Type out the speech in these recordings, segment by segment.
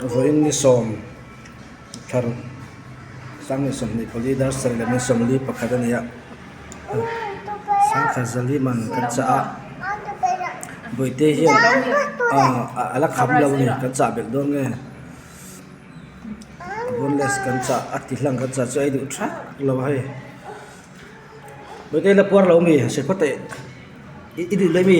vawiin ni sawm thar sanghnih sawmhnih pali dar ser lem in sawmli pakhat a ni a sangha zali man kan chah a bawihte hian a la kham lo ni kan chah bek dawn nge boneless kan chah a tihlang kan chah chu a iduh tha lo a hei bawihte ila puar lo a mi hrepawt a i duh daih a mi.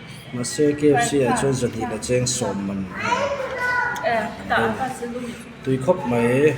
Mahse, KFC ah chuan zahnih la cheng sawm man a ni. Tui khawp mai e.